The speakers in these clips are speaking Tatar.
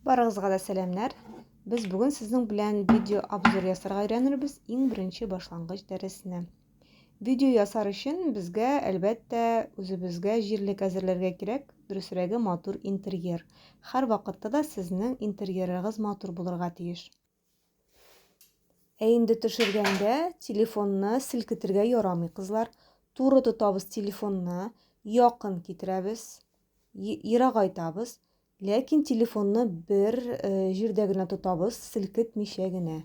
Барыгызга да сәламнәр. Без бүген сезнең белән видео обзор ясарга өйрәнербез иң беренче башлангыч дәресне. Видео ясар өчен безгә, әлбәттә, үзебезгә җирлек әзерләргә кирәк, дөресрәге матур интерьер. Һәр вакытта да сезнең интерьерыгыз матур булырга тиеш. Ә инде төшергәндә телефонны селкетергә ярамый, кызлар. Туры тотабыз телефонны, якын китерәбез, ерагайтабыз, ләкин телефонны бер э, җирдә генә тотабыз, селкетмичә генә.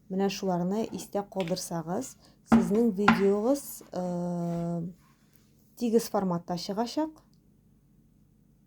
Менә шуларны истә калдырсагыз, сезнең видеогыз э, тигез форматта чыгачак.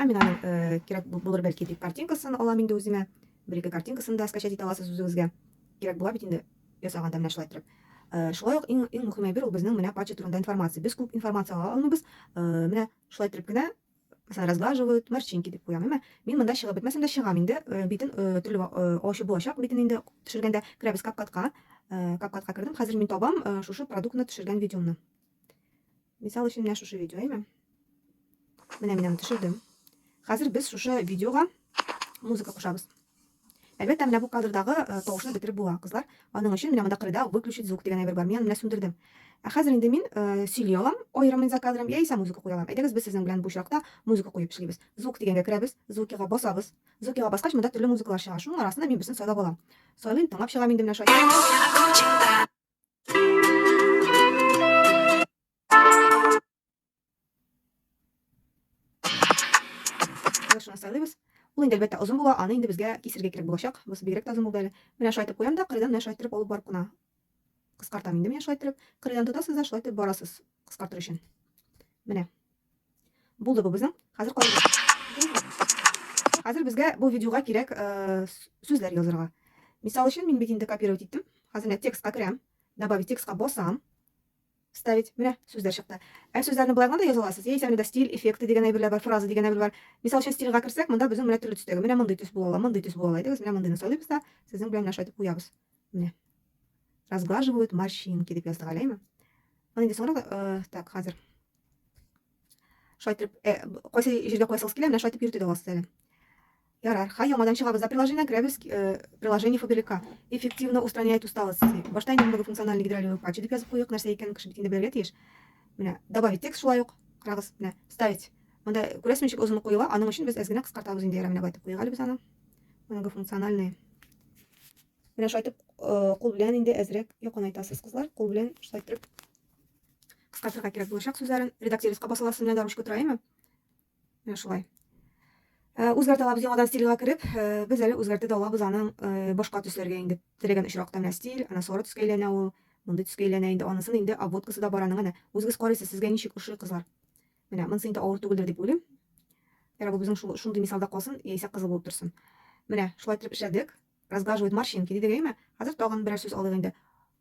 Ә мин аның э, кирәк булыр бәлки дип картинкасын алам инде үземә. Бер-ике картинкасын да скачать итә аласыз үзегезгә. Кирәк була бит инде ясаганда менә шулай торып. Э, шулай ук иң иң мөһим әйбер ул безнең менә патча турында информация. Без күп информация ала алмыйбыз. Э, менә шулай торып кенә Мәсәлән, разглаживают, морщинки дип куям, әмма мин монда чыгып бетмәсәм дә чыгам инде. Битен төрле ачы булачак битен инде төшергәндә керәбез капкатка. Капкатка кердем. Хәзер мин табам шушы продуктны төшергән видеомны. Мисал өчен менә шушы видео, әйме? Менә мин аны төшердем. Хәзер без шушы видеога музыка кушабыз. Әлбәттә, менә бу кадрдагы э, тавышны бетереп була, кызлар. Аның өчен менә монда кырыйда выключить звук дигән әйбер бар. Мин аны менә сүндердем. Ә хәзер инде мин э, сөйли алам, аерымын за кадром, яисә музыка куя алам. Әйдәгез, без сезнең белән бу очракта музыка куеп эшлибез. Звук дигәнгә керәбез, звукига басабыз. Звукига баскач, монда төрле музыкалар чыга. Шуның арасында мин берсен сайлап алам. Сайлыйм, тыңлап чыгам инде менә шулай. Кылышына сайлыйбыз. Ул инде әлбәттә озын була, аны инде безгә кисергә кирәк булачак. Бу бигрәк тә озын булды әле. Менә шулай итеп куям да, кырыйдан менә шулай итеп алып барып кына кыскартам инде менә шулай итеп. Кырыйдан тотасыз да шулай итеп барасыз кыскартыр өчен. Менә Булды бу безнең. Хәзер Хәзер безгә бу видеога кирәк э, сүзләр язырга. Мисал өчен, мин бит инде копировать иттем. Хәзер менә текстка керәм, добавить текстка басам. Ставить. Менә сүзләр чыкты. Ә сүзләрне былай гына да яза аласыз. Яисә менә стиль, эффекты дигән әйберләр бар, фраза дигән әйбер бар. Мисал өчен, стильгә керсәк, монда безнең менә төрле төстәге. Менә мондый төс була ала, мондый төс була ала идегез. Менә мондыйны сайлыйбыз да, сезнең белән менә шайтып куябыз. Менә. Разглаживают морщинки дип яздык, әләйме? Моны инде соңрак, э, так, хәзер. Шулай итеп, э, кайсы җиргә куясыгыз килә, менә шулай итеп йөртеп аласыз әле. Ярар, хай яңадан чыгабыз. За приложение керәбез, э, приложение фабрика. Эффективно устраняет усталость. Башта инде мондагы функциональный гидролевый вкладчик дип язып куйык, нәрсә икәнен кеше бит инде белергә тиеш. Менә добавить текст шулай ук. Карагыз, менә вставить. Монда күрәсез ничек озын куела, аның өчен без әз генә кыскартабыз инде ярар, менә байтып куйык әле без аны. Мондагы функциональный. Менә шулай итеп, э, кул белән инде әзрәк якынайтасыз, кызлар. Кул белән шулай итеп Кыскартырга кирәк булачак сүзләрен. Редактируйска басыласы менә дә ручка тора, әйме? Менә шулай. Э, үзгәртә алабыз яңадан стильга кереп, э, без әле үзгәртә дә алабыз аның э, башка төсләргә инде. Теләгән очракта менә стиль, ана сары төскә әйләнә ул, мондый төскә әйләнә инде. Анысын инде обводкасы да бар аның, әнә. Үзегез карыйсыз, сезгә ничек ошый, кызлар. Менә, монысы инде авыр түгелдер дип уйлыйм. Ярабы безнең шул шундый мисалда калсын, яисә кызыл булып торсын. Менә, шулай итеп эшләдек. Разглаживает морщинки дидек, әйме? Хәзер тагын берәр сүз алыйк инде.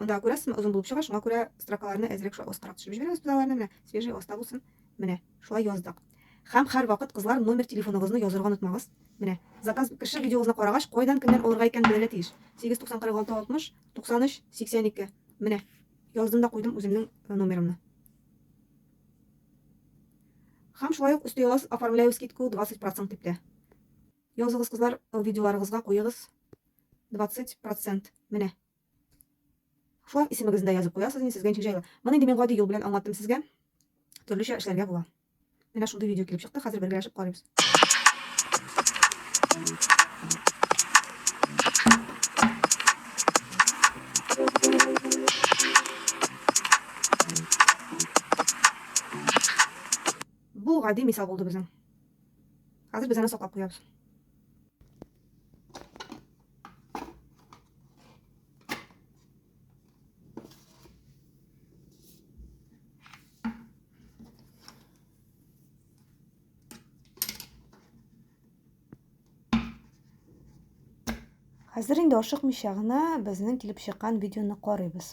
Анда күрәсезме, озын булып чыга, шуңа күрә строкаларны әзрәк шулай остарак төшереп җибәрәбез без аларны, менә свежий оста булсын. Менә, шулай яздык. Һәм һәрвакыт, кызлар, номер телефоныгызны язырга онытмагыз. Менә, заказ кеше видеогызны карагач, кайдан, кемнән алырга икәнен белергә тиеш. 7904660 93 82. Менә, яздым да куйдым үземнең э, номерымны. Һәм шулай ук өсти аласыз, оформляю скидку 20% дип тә. Языгыз, кызлар, видеоларыгызга куегыз. 20 процент менә шулай исемегезне дә язып куясыз инде сезгә ничек җайлы моны инде мин гади юл белән аңлаттым сезгә төрлечә эшләргә була менә шундый видео килеп чыкты хәзер бергәләшеп карыйбыз бу гади мисал булды безнең хәзер без аны саклап куябыз Хәзер инде ашыкмыйча гына безнең килеп чыккан видеоны карыйбыз.